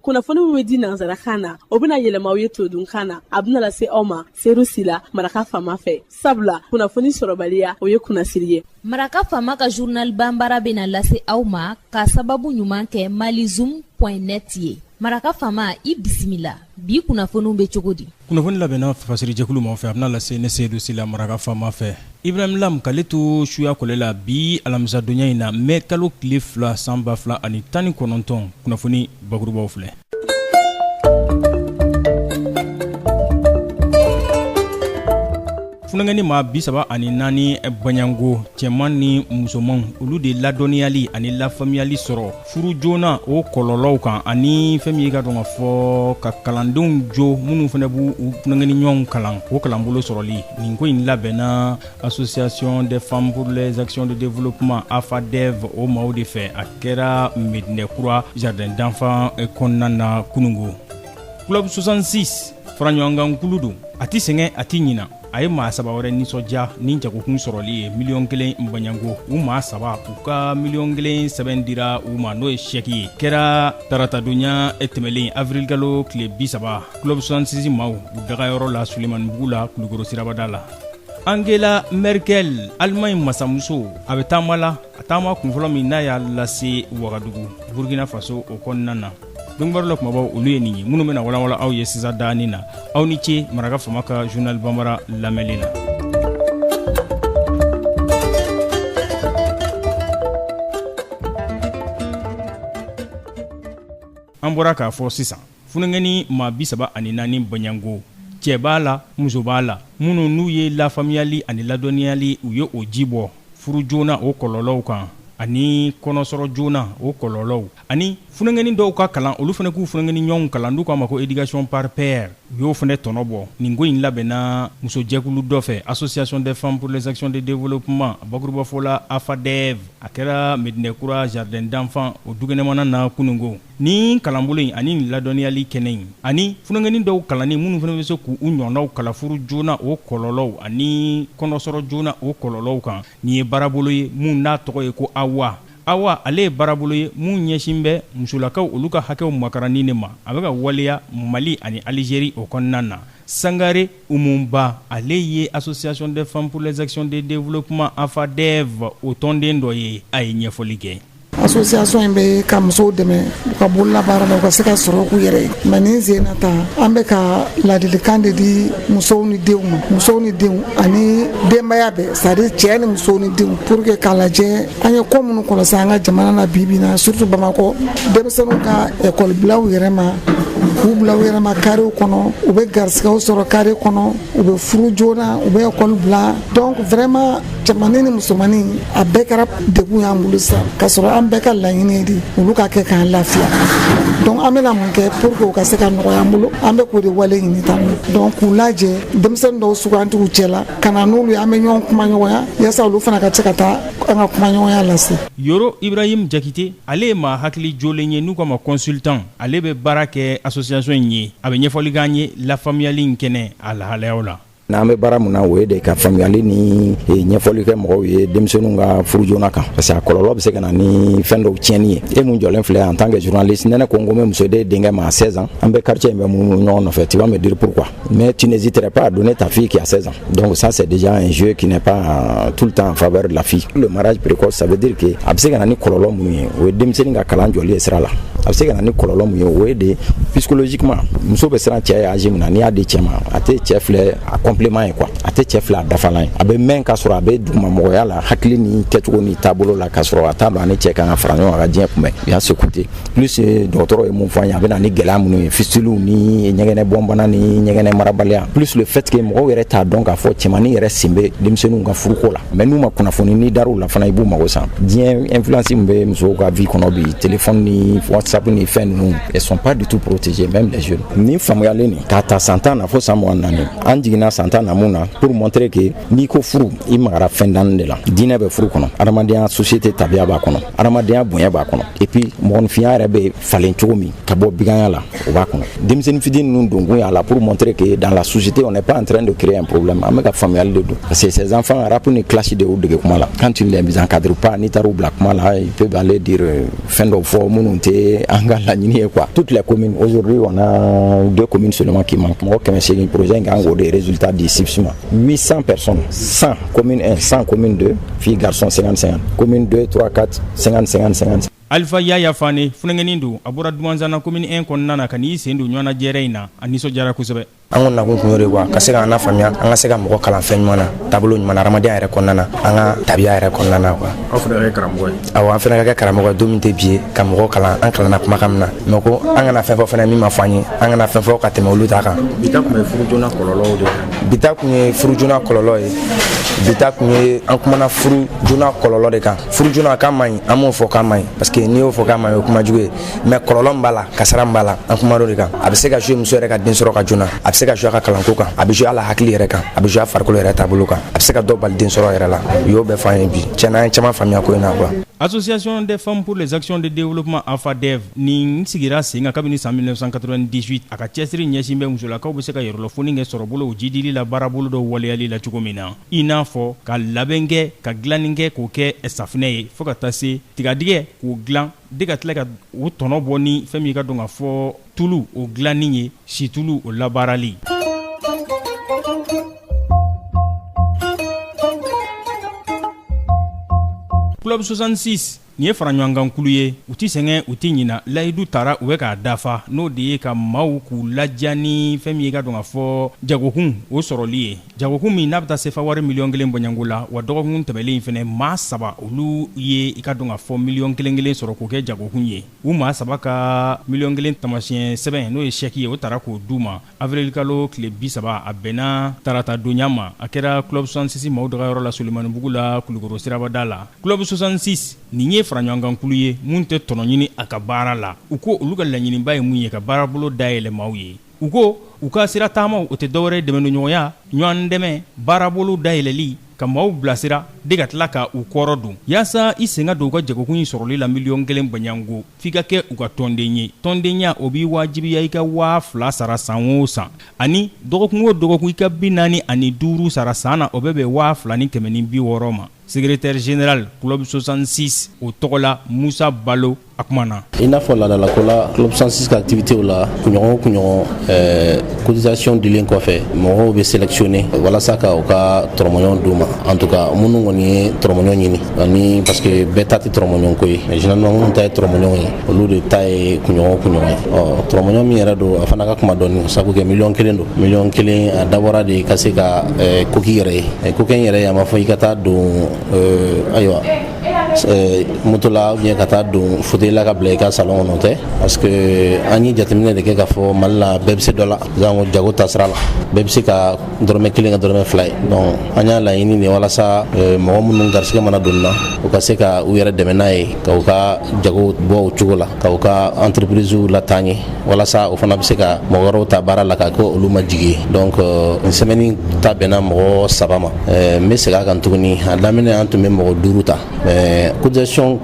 kunnafoni min bɛ di nansarakan na o bɛna yɛlɛma aw ye todunkan na a bɛna lase aw ma seyidu sila maraka faama fɛ sabula kunnafoni sɔrɔbaliya o ye kunnasiri ye maraka faama ka journal bambara bɛna lase aw ma k'a sababu ɲuman kɛ malizoom point net ye maraka faama i bisimila bi kunnafoniw bɛ cogo di kunnafoni labɛnna fasirijɛkulu maa fɛ a bɛna lase ne seyidu sila maraka faama fɛ ibrahim lam k'ale to suya kɔlɛ la bi alamisadonya in na mɛ kalo tile fila san ba fila ani tan ni kɔnɔntɔn kunnafoni bakurubaw filɛ funankɛni maa bi saba ani naani baɲango cɛman ni musomanw olu de ladɔnniyali ani lafaamuyali sɔrɔ furu joona o kɔlɔlɔw kan ani fɛn min ka dɔn k'a fɔ ka kalandenw jo minnu fana b'u funankɛni ɲɔgɔn kalan o kalanbolo sɔrɔli nin ko in labɛnna association des femmes pour les actions de développement AFADEV o maaw de fɛ a kɛra Medinɛ kura jardin d'enfants kɔnɔna na kunungo club 66 faraɲɔgɔnkan kulu don a tɛ sɛgɛn a tɛ ɲina a ye maa saba wɛrɛ nisɔndiya ni jagokun sɔrɔli ye miliyɔn kelen baɲanko u maa saba u ka miliyɔn kelen sɛbɛn dira u ma n'o ye sɛki ye kɛra taratadonya tɛmɛlen avirilkalo tile bi saba club 66 maaw u dagayɔrɔ la sulemanibugu la kulukoro sirabada la angela merkel alimaɲi masamuso a bɛ taama la a taama kunfɔlɔ min n'a y'a lase wagadugu burkina faso o kɔnɔna na donkibaru la kumabaw olu ye nin ye minnu bɛna walanwalan aw ye sisan daani na aw ni ce maraka faama ka journal bambara lamɛnni na an bɔra k'a fɔ sisan funankɛni maa bisaba ani naani baɲango cɛ b'a la muso b'a la minnu n'u ye lafaamuyali ani ladɔnniyali u ye o ji bɔ furu joona o kɔlɔlɔw kan ani kɔnɔsɔrɔ joona o kɔlɔlɔw ani funankɛnin dɔw ka kalan olu fana k'u funankɛnin ɲɔgɔnw kalan n'u k'a ma ko éducation par pair u y'o fana tɔnɔ bɔ nin ko in labɛnna musojɛkulu dɔ fɛ association des femmes pour les actions de développement bakurubafɔ la AFADEV a kɛra Medinɛ kura jardin d'enfants o dukɛnɛmana na kunungo nin kalanbolo in ani nin ladɔnniyali kɛnɛ in ani funankɛnin dɔw kalanni minnu fana bɛ se k'u ɲɔgɔnnaw kalan furu joona o kɔlɔlɔw ani kɔnɔsɔrɔ joona o kɔlɔlɔw kan nin ye baarabolo ye min n'a tɔgɔ ye ko AWA AWA, ale ye baarabolo ye min ɲɛsin bɛ musolakaw olu ka hakɛw makaranni de ma. A bɛ ka waleya Mali ani Alijeri o kɔnɔna na. Sangare Umu Ba, ale ye Association des femmes pour les actions de développement, AFADEV, o tɔnden dɔ ye, a ye ɲɛfɔli kɛ. Association in bɛ ka musow dɛmɛ u ka bololabaara la, u ka se ka sɔrɔ k'u yɛrɛ ye. Mais nin sen in na tan, an bɛ ka laadilikan de di musow ni denw ma, musow ni denw ani denbaya bɛɛ c'est à dire cɛ ni muso ni denw pour que k'a lajɛ an ye ko minnu kɔlɔsi an ka jamana na bibi na surtout bamakɔ denmisɛnninw ka ekɔli bila u yɛrɛ ma k'u bila u yɛrɛ ma karew kɔnɔ u bɛ garisigɛw sɔrɔ kare kɔnɔ u bɛ furu joona u bɛ ekɔli bila donc vraiment cɛmannin ni musomannin a bɛɛ kɛra degun y'an bolo sisan k'a sɔrɔ an bɛɛ ka laɲini de ye olu ka kɛ k'an lafiya donc an bɛna mun kɛ pour que u ka se ka nɔgɔya an bolo an bɛ k'o de wale ɲini tan donc k'u lajɛ denmisɛnnin dɔw sugandi u cɛla ka na n'olu ye an bɛ ɲɔgɔn kumaɲɔgɔnya yaasa olu fana ka se ka taa an ka kumaɲɔgɔnya lase yoro ibrahim jakite ale ye maa hakili jolen ye n'u k'a ma consultant ale bɛ baara kɛ association in ye a bɛ ɲɛfɔli k'an ye lafaamuyali in kɛnɛ a lahalayaw la n'an bɛ baara min na o ye de ka faamuyali ni eh, ɲɛfɔli kɛ mɔgɔw ye denmisɛnninw ka furu joona kan parce que a kɔlɔlɔ bɛ se ka na ni fɛn dɔw tiɲɛni ye e min jɔlen filɛ en tant que journaliste ni ne ko n ko n bɛ muso di e denkɛ ma à 16 ans an bɛ quartier in bɛɛ munu ɲɔgɔn nɔfɛ tu vas me dire pourquoi Mais tu n'hésiterais pas à donner ta fille qui a 16 ans. Donc ça, c'est déjà un jeu qui n'est pas euh, tout le temps en faveur de la fille. Le mariage précoce, ça veut dire que a bɛ se ka na ni kɔlɔlɔ minnu ye o ye denmisɛnnin ka kalan jɔli ye sira la a bɛ se ka na ni kɔlɔlɔ min ye o ye de psychologiquement muso bɛ siran cɛ ɲɛ âge min na n'i y'a di cɛ ma a tɛ cɛ filɛ a complément ye quoi a tɛ cɛ filɛ a dafalan ye a bɛ mɛn k'a sɔrɔ a bɛ dugumamɔgɔya la hakili ni kɛcogo ni taabolo la k'a sɔrɔ a t'a dɔn a ni cɛ kan ka fara ɲɔgɔn kan ka diɲɛ kunbɛn il y a ce côté plus eh, dɔgɔtɔrɔ ye min fɔ an ye a bɛ na ni gɛlɛya minnu ye fistiliw ni ɲɛgɛnɛ bɔnbana ni ɲɛgɛnɛ marabaliya plus le fait que mɔgɔw yɛrɛ t'a dɔn k'a fɔ cɛmannin yɛrɛ sen bɛ denmisɛnninw ka furuko la mais n'u ma kunnafoni n'i dar'u la fana i b'u mago sa diɲɛ influence min bɛ musow ka vie kɔnɔ bi téléphone ni whatsapp ni fɛn ninnu elles sont pas du tout protégées même les jeunes ni faamuyali nin k'a ta san tan na fo san mugan naani an jiginna san tan na mun na pour montrer que n'i ko furu i magara fɛn naani de la diinɛ bɛ furu kɔnɔ adamadenya société tabiya b'a kɔnɔ adamadenya bonya b'a kɔnɔ et puis mɔgɔninfinya yɛrɛ bɛ falen cogo min ka bɔ baganya la o b'a kɔnɔ denmisɛnnin fitini ninnu donkun y'a la pour montrer que dans la société on n'est pas en train de créer un problème an bɛ ka faamuyali de don parce que ces enfants rap ni clash de y'u dege kuma la quand tu ne les encadres pas n'i taar'u bila kuma la il peut aller dire euh, fɛn dɔw fɔ minnu tɛ an ka laɲini ye quoi toutes les communes aujourd'hui on a deux communes seulement qui manquent mɔgɔ kɛmɛ seegin projet in kan k'o de résultat di sifs ma 800 personnes, 100 commune 1, 100 commune 2, filles, garçons 50-50, commune 2, 3, 4, 50-50-50. Alifa Yaya Fane funankɛnin don a bɔra Dumanzana commune 1 kɔnɔna na ka n'i sen don ɲɔgɔnna jɛrɛ in na a nisɔndiyara kosɛbɛ. An ko nakun kun y'o de quoi ka se k'an lafaamuya an ka se ka mɔgɔ kalan fɛn ɲuman na taabolo ɲuman na hadamadenya yɛrɛ kɔnɔna na an ka tabiya yɛrɛ kɔnɔna na quoi. Aw fana ka kɛ karamɔgɔ ye. Awɔ an fana ka kɛ karamɔgɔ ye don min tɛ bi ye ka mɔgɔ kalan an kalanna kumakan min na mais ko an kana fɛn fɔ fana min ma fɔ an ye an kana fɛn fɔ ka tɛmɛ olu ta kan. Bi ta tun bɛ furu joona kɔlɔlɔw de kan. bi ta kun ye furu joona kɔlɔlɔ ye bi ta kun ye an kumana furu joona kɔlɔlɔ de kan furu joona k'a man ɲi an m'o fɔ k'a man ɲi parce que n'i y'o fɔ k'a man ɲi o kuma jugu ye mais kɔlɔlɔ min b'a la kasara min b'a la an kumana o de kan a bɛ se ka jouer muso yɛrɛ ka den sɔrɔ ka joona a bɛ se ka jouer a ka kalanko kan a bɛ jouer a la hakili yɛrɛ kan a bɛ jouer a farikolo yɛrɛ taabolo kan a bɛ se ka dɔ bali den sɔrɔ yɛrɛ la u y'o bɛɛ f'an ye bi tiɲɛna an ye caman faamuya ko in na quoi association des femmes pour les actions de développement afadev nin sigira sen kan kabini san 1998 a ka cɛsiri ɲɛsin bɛ musolakaw bɛ se ka yɛrɛlafoni kɛ sɔrɔbolo o jidili la baarabolo dɔ waleyali la cogo min na i n'a fɔ ka labɛn kɛ ka dilanni kɛ k'o kɛ safinɛ ye fo ka taa se tigadigɛ k'o dilan de ka tila ka u tɔnɔ bɔ ni fɛn min i ka dɔn ka fɔ tulu o dilanni ye situlu o labaarali club 66 nin ye faraɲɔgɔnkankulu ye u tɛ sɛgɛn u tɛ ɲina layidu tara u bɛ k'a dafa n'o de ye ka maaw k'u ladiya ni fɛn min ye i ka dɔn ka fɔ jagokun o sɔrɔli ye jagokun min n'a bɛ taa sefa wari miliyɔn kelen bɔɲɔgɔnko la wa dɔgɔkun tɛmɛlen in fana maa saba olu ye i ka dɔn ka fɔ miliyɔn kelen kelen sɔrɔ k'o kɛ jagokun ye u maa saba ka miliyɔn kelen taamasiyɛn sɛbɛn n'o ye sɛki ye o tara k'o di u ma Avril-kalo tile 30, a bɛnna taratadonya ma, a kɛra club 66 maaw dagayɔrɔ la Sulemanibugu la Kulukɔrɔ siraba da la. Club 66, nin ye faraɲɔgɔnkankulu ye min tɛ tɔnɔ ɲini a ka baara la. U ko olu ka laɲininba ye min ye ka baarabolo dayɛlɛ maaw ye. U ko u ka sira taamaw, o tɛ dɔwɛrɛ dɛmɛdonɲɔgɔnya, ɲɔgɔndɛmɛ, baarabolow dayɛlɛli, ka maaw bilasira de ka tila ka u kɔrɔ don yaasa i sen ka don u ka jagokun in sɔrɔli la miliyɔn kelen bɔɲɔgɔnko f'i ka kɛ u ka tɔnden ye tɔndenya o b'i wajibiya i ka waa fila sara san o san ani dɔgɔkun o dɔgɔkun i ka bi naani ani duuru sara san na o bɛ bɛn waa fila ni kɛmɛ ni bi wɔɔrɔ ma secrétaire général club 66 o tɔgɔ la musa balo a kumana i n'a fɔ laadalako la club 66 ka activitéw la kunɲɔgɔn o kunɲɔgɔn eh, cotisation dilen kɔfɛ mɔgɔw bɛ sélectionner walasa ka u ka tɔrɔmɔɲɔgɔn d'u ma en tout cas minnu kɔni ye tɔrɔmɔɲɔgɔn ɲini ani parce que bɛɛ ta tɛ tɔrɔmɔɲɔgɔn ko ye mais généralement minnu ta ye tɔrɔmɔɲɔgɔn ye olu de ta ye kunɲɔgɔn o kunɲɔgɔn ye ɔ tɔrɔmɔɲɔgɔn min yɛrɛ don a fana ka kunba dɔɔni sabu kɛ miliyɔn kelen don miliyɔn kelen a dabɔra de ka se ka eh, ko k'i yɛrɛ ye Eh, ko k'i yɛrɛ ye a ma fɔ i ka taa don eh, ayiwa moto la ou bien ka taa don fauteuil la ka bila i ka salon kɔnɔ tɛ parce que an ye jateminɛ de kɛ k'a fɔ mali la bɛɛ bɛ se dɔ la janko jago ta sira la bɛɛ bɛ se ka dɔrɔmɛ kelen kɛ dɔrɔmɛ fila ye donc an y'a laɲini de walasa mɔgɔ minnu garisɛgɛ mana don na u ka se ka u yɛrɛ dɛmɛ n'a ye ka u ka jago bɔ o cogo la ka u ka entreprisew lataa ɲɛ walasa o fana bɛ se ka mɔgɔ wɛrɛw ta baara la ka kɛ olu ma jigi donc euh, nin semaine ta bɛnna mɔgɔ saba ma euh, n bɛ segin a kan tuguni a daminɛ an tun bɛ mɔgɔ duuru ta mais cotisation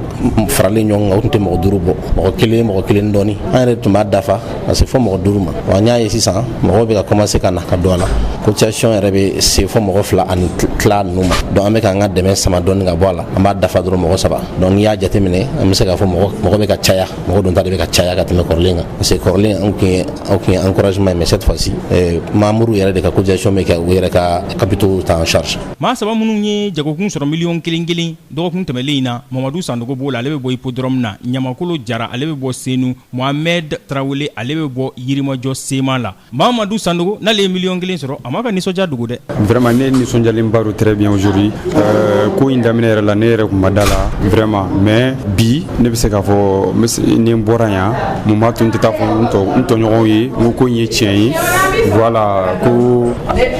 faralen ɲɔgɔn kan o tun tɛ mɔgɔ duuru bɔ mɔgɔ kelen mɔgɔ kelen dɔɔni an yɛrɛ tun b'a dafa ka se fɔ mɔgɔ duuru ma wa n y'a ye sisan mɔgɔw bɛ ka commencer ka na ka don a la cotisation yɛrɛ bɛ se fɔ mɔgɔ fila ani tila ninnu ma donc an bɛ k'an ka dɛmɛ sama dɔɔni ka bɔ a la an b'a dafa dɔrɔn mɔgɔ saba donc n'i y'a jateminɛ an bɛ se k'a fɔ mɔgɔ mɔgɔ bɛ ka caya mɔgɔ donta de bɛ ka caya ka tɛmɛ kɔrɔlen kan parce que kɔrɔlen an tun ye an tun ye encouragement mais cette fois-ci eh, membre yɛrɛ de ka cotisation bɛ kɛ u yɛrɛ ka capitaux ta en charge maa saba minnu ye jagokun sɔrɔ miliyɔn kelen kelen dɔgɔkun tɛmɛlen in na mamadu sandogo b'o la ale bɛ bɔ ipodrɔmu na ɲamakolo jara ale bɛ bɔ senu mohamɛd tarawele ale bɛ bɔ yirimajɔ sema la Mamadu Sandogo n'ale ye miliyɔn kelen sɔrɔ a m'a ka nisɔndiya dogo dɛ vraiment ne nisɔndiyalenba don très bien aujourd'hui ko in daminɛ yɛrɛ la ne yɛrɛ tun ma da a la vraiment mais bi ne bɛ se k'a fɔ ni n bɔra yan mun b'a to n tɛ taa fɔ n tɔ n tɔɲɔgɔnw ye n ko in ye tiɲɛ ye voilà ko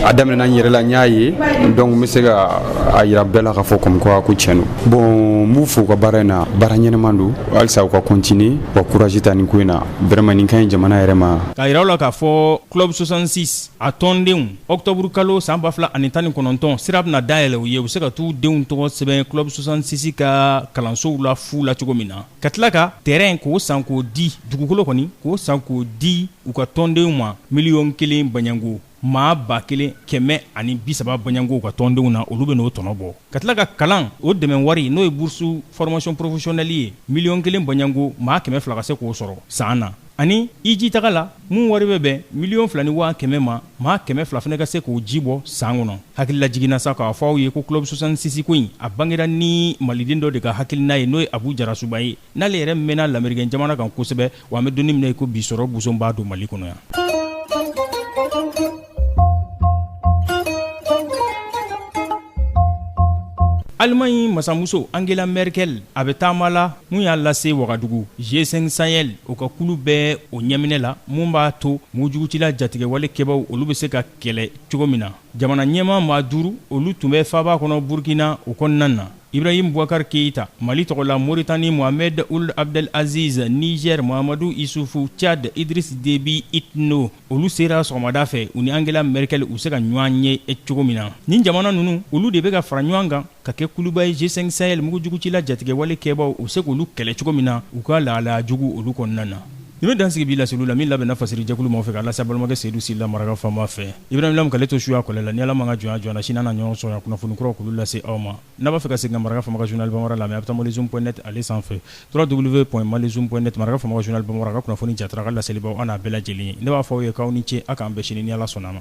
a daminɛna n yɛrɛ la n y'a ye donc n bɛ se ka a jira bɛɛ la k'a fɔ comme quoi ko cɛn don bon n b'u fo u ka baara in na baara ɲɛnaman don halisa u ka continuer wa courage ta nin ko in na vraiment nin ka ɲi jamana yɛrɛ ma K'a jira aw la k'a fɔ club 66 a tɔndenw octobre kalo san ba fila ani tan ni kɔnɔntɔn sira bɛna na dayɛlɛ u ye u bɛ se ka taa u denw tɔgɔ sɛbɛn club 66 ka kalansow la fu la cogo min na ka tila ka terrain k'o san k'o di dugukolo kɔni k'o san k'o di u ka tɔndenw ma miliyɔn kelen baɲanko maa ba kelen kɛmɛ ani bisaba baɲanko u ka tɔndenw na olu bɛ n'o tɔnɔ bɔ ka tila ka kalan o dɛmɛn wari n'o ye burusu fɔrɔmasiyɔn porofesiyɔnɛli ye miliyɔn kelen baɲanko maa kɛmɛ fila ka se k'o sɔrɔ san na ani hijitaga la mun wari bɛ bɛn miliyɔn fila ni waa kɛmɛ ma maa kɛmɛ fila fana ka se k'o ji bɔ san kɔnɔ hakililajigin na sa k'a fɔ aw ye ko club 66 ko in a bangera ni maliden dɔ de ka hakilina ye n'o ye abu jarasuba ye n'ale yɛrɛ mɛnna lamerikɛn jamana kan kosɛbɛ wa an bɛ donni minɛ i ko bi sɔrɔ boson b'a don mali kɔnɔ yan alimaɲi masamuso angela merkel a bɛ taama la mun y'a lase wagadugu g5 sahel o ka kulu bɛɛ o ɲɛminɛ la mun b'a to mugujugutila jatigɛwale kɛbaw olu bɛ se ka kɛlɛ cogo min na jamana ɲɛmaa maa duuru olu tun bɛ faaba kɔnɔ burkina o kɔnɔna na Ibrahim Boubacar Keita, Mali tɔgɔ la Mauritanie Mohamed Ould Abdel Aziz, Niger Mahamadou Issoufou, Tchad Idriss Déby Itno, olu sera sɔgɔmada fɛ u ni Angela Merkel u se ka ɲɔgɔn ye cogo min na. Nin jamana ninnu, olu de bɛ ka fara ɲɔgɔn kan ka kɛ kuluba ye G5 Sahel mugujugutila jatigɛwale kɛbaaw u bɛ se k'olu kɛlɛ cogo min na u ka lahalaya jugu olu kɔnɔna na. Nin bɛ dansigi bi laseliw la min labɛnna fasiri jɛkulu ma fɛ ka lase balimakɛ Seydou Sila maraka fama fɛ Ibrahim Lam k'ale to suya kɔlɛ la ni ala ma ka jɔnya jɔna sini an na ɲɔgɔn sɔrɔ kunnafoni kuraw k'olu lase aw ma n'a b'a fɛ ka se ka maraka fama ka journal bambara lamɛn a bɛ taa malizoom.net ale sanfɛ www.malizoom.net maraka fama ka journal bambara ka kunnafoni jatara ka laselibaw an' a bɛɛ lajɛlen ne b'a fɔ aw ye k'aw ni ce aw k'an bɛn sini ni ala sɔnna a ma